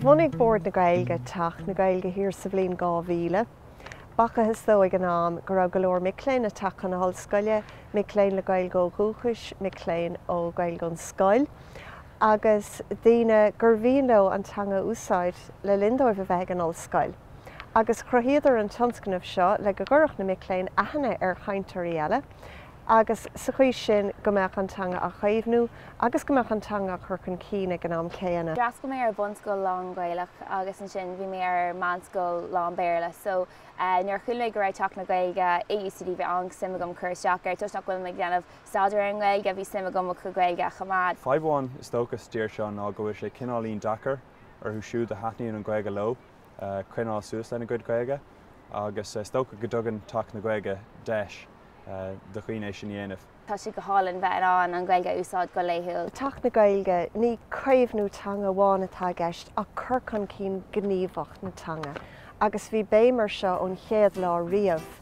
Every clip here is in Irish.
Bhunaigh Bord na Gaeilge Teach na Gaeilge thiar sa bhliain dhá mhíle. B'fhacthas dóibh ag an am go raibh go leor mic léinn ag teacht chun na hollscoile, mic léinn le Gaeilge ó dhúchas, mic léinn le Gaeilge ón scoil, agus daoine gur mhian leo an teanga a úsáid le linn dóibh a bheith ag an ollscoil. agus chruthaíodar an tionscnamh seo le go gcuirfeadh na mic léinn aithne ar chainteoirí eile agus sa chaoi sin go mbeadh an teanga á caomhnú agus go mbeadh an teanga á cur chun cinn ag an am céanna. D'fhreastail mé ar bhunscoil lán-Ghaelach agus ansin ar mheánscoil lán-Béarla so nuair a chuala mé go raibh Teach na Gaeilge i UCD bhí an-suim agam cur isteach air. Toisc nach bhfuilim ag déanamh staidéir ar an nGaeilge bhí suim agam mo Ghaeilge a choimeád. Fadhb amháin is dócha sa dtír seo ná go bhfuil sé cineáilín deacair orthu siúd a thaitníonn an Ghaeilge leo. coinneáil suas lena gcuid Gaeilge agus is dócha go dtugann Teach na Gaeilge deis do dhaoine é sin a dhéanamh. Tá sé go hálainn bheith in ann an Ghaeilge a úsáid go laethúil. I dTeach na Gaeilge, ní caomhnú teanga amháin atá i gceist ach cur chun cinn gníomhach na teanga agus bhí béim air seo ón chéad lá riamh.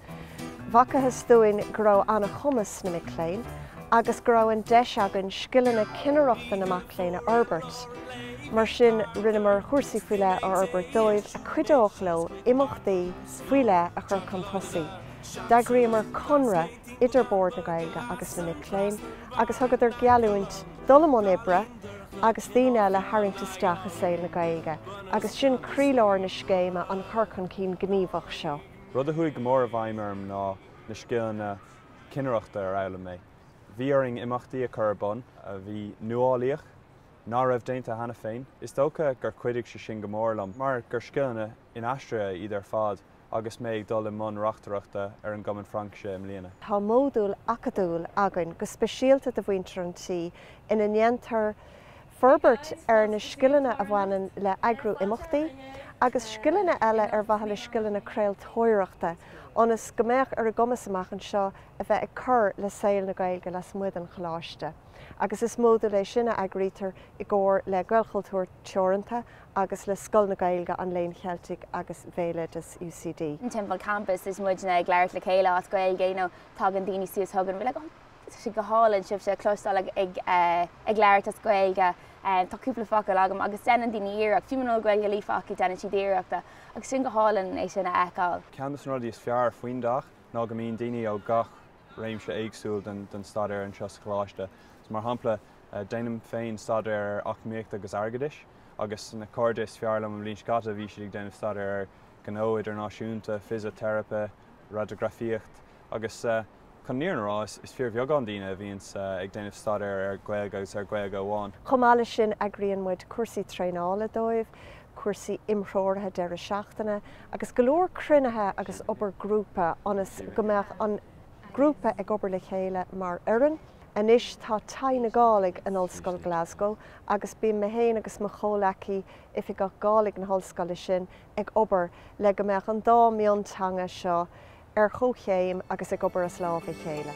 B'fhacthas dúinn go raibh an-chumas sna mic léinn agus go raibh an deis againn scileanna cinnireachta na mac léinn a fhorbairt. Mar sin rinneamar cúrsaí faoi leith a fhorbairt dóibh a chuideodh leo imeachtaí faoi leith a chur chun tosaigh. D'eagraíomar conradh idir Bord na Gaeilge agus na mic léinn agus thugadar gealltúint dul i mbun oibre agus daoine eile a tharraingt isteach i saol na Gaeilge agus sin croílár na scéime, an cur chun cinn gníomhach seo. Rud a chuaigh go mór i bhfeidhm orm ná na scileanna cinnireachta a d'fhoghlaim mé. Bhí orainn imeachtaí a chur ar bun a bhí nuálaíoch, ná raibh déanta cheana féin. Is dócha gur chuidigh sé sin go mór liom mar gur scileanna inaistrithe iad ar fad agus mé ag dul i mbun reachtaireachta ar an gCumann Fraincise i mbliana. Tá modúl acadúil againn go speisialta do mhuintir an tí ina ndéantar forbairt ar na scileanna a bhaineann le heagrú imeachtaí agus scileanna eile ar a bhfuil scileanna craoltóireachta ionas go mbeadh ar a gcumas amach anseo a bheith ag cur le saol na Gaeilge lasmuigh den choláiste agus is modúl é sin a eagraítear i gcomhar le Gaelchultúr Teoranta agus le Scoil na Gaeilge, an Léinn Cheiltigh agus Bhéaloideas UCD. timpeall campas is muidne ag labhairt le chéile as Gaeilge you know tagann daoine suas chugainn they're like oh Tá sé go hálainn sibhse a chloisteáil ag labhairt as Gaeilge. Tá cúpla focal agam agus deineann daoine iarracht, fiú muna bhfuil Gaeilge líofa acu deineann siad iarracht agus sin go hálainn é sin a fheiceáil. Ceann dos na rudaí is fearr faoin dteach ná go mbíonn daoine ó gach réimse éagsúil den staidéar anseo sa choláiste. Mar shampla déanaim féin staidéar ar eacnamaíocht agus airgeadas agus na cairde is fearr liom an bhliain seo caite bhí siad ag déanamh staidéar ar ghnó idirnáisiúnta, fisiteiripe, radagrafaíocht agus. Chun an fhírinne a rá, is fíorbheagán daoine a bhíonns ag déanamh staidéir ar Ghaeilge agus ar Ghaeilge amháin. Chomh maith leis sin, eagraíonn muid cúrsaí traenála dóibh, cúrsaí imthreoraithe deireadh seachtaine agus go leor cruinnithe agus obair grúpa ionas go mbeadh an grúpa ag obair le chéile mar fhoireann. Anois tá Taigh na Gàidhlig in Ollscoil Glasgow agus bíonn mé féin agus mo chomhleacaí, Oifigeach Gàidhlig na hollscoile sin, ag obair le go mbeadh an dá mhionteanga seo ar chomhchéim agus ag obair as lámh a chéile.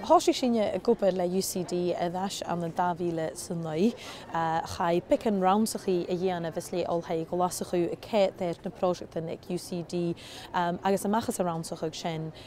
Thòisich sinne ag obair le UCD air ais ann an 2009. Chaidh beagan rannsachaidh a dhèanamh às leth Oilthigh Ghlaschu a' coimhead air na pròiseactan aig UCD agus a-mach às an rannsachadh sin.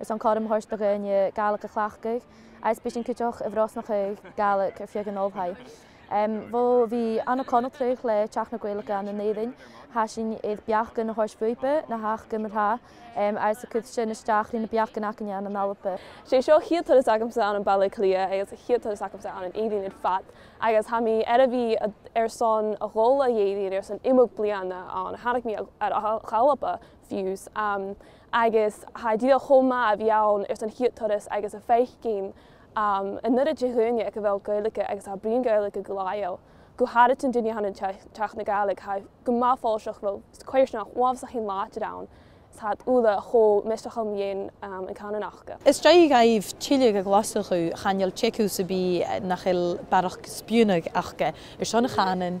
Is an cothrom a thabhairt do dhaoine Gaelic a chleachtadh agus b'shin cíteach i bhfrosnacha Gaelic ar fiuchadh an ollphaidh. Bhó bhí ana conacraidh le teacht na Gaelic ann in Éirinn. Tha sin iad beach gan a thabhairt fuipe na theach gan a thá agus a cuid sin isteach rí na beach gan acaine ann an alpa. Sé seo chéad turas agamsa ann an Baile Cliath agus a chéad turas agamsa ann in Éirinn ar fad agus tha mé ar a bhí ar son a dhul a Éirinn ar son imeacht bliana ann. Tháinig mé a dhul a alpa fiú's. Agus tá díol chomh maith a bhí ann ar son chéad turas agus a feadh cinn anuraidh de dhuine ag a bhfuil Gaeilge agus a oibríonn Gaeilge go laethúil, go háirid an duine a théann ag Teach na Gaeilge tá go maith follasach go bhfuil codarsnacht uafásach an láidir ann sa úlla chomh misteach a mbíonn an canúint acu. Is deacair dhaoibh tuilleadh a ghlossadh chaineil téacús a bhí nach il bearach spíúnaigh acu ar son a chanúin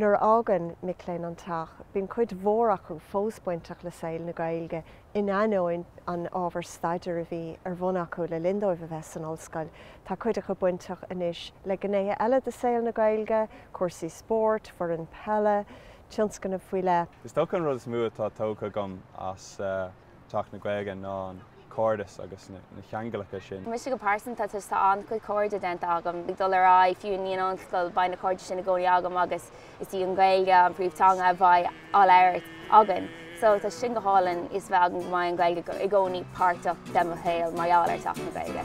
Nuair a fhágann mic léinn an teach, bíonn cuid mhór acu fós bainteach le saol na Gaeilge in ainneoin an ábhair staidéir a bhí ar bhun acu le linn dóibh a bheith san ollscoil. Tá cuid acu bainteach anois le gnéithe eile de saol na Gaeilge, cúrsaí spóirt, foireann peile, tionscnaimh faoi leith. Is dócha an rud is mó atá tógtha agam as. Teach na Gaeilge ná an cairdeas agus na ceanglacha sin. Mise go pearsanta, tá an-chuid cairde déanta agam ag dul ar aghaidh, fiú i ndiaidh an ollscoil, beidh na cairde sin i gcónaí agam agus is í an Ghaeilge an príomhteanga a bheidh á labhairt againn. So, tá sé sin go hálainn fhios a bheith agam go mbeidh an Ghaeilge i gcónaí páirteach de mo shaol mar gheall ar Teach na Gaeilge.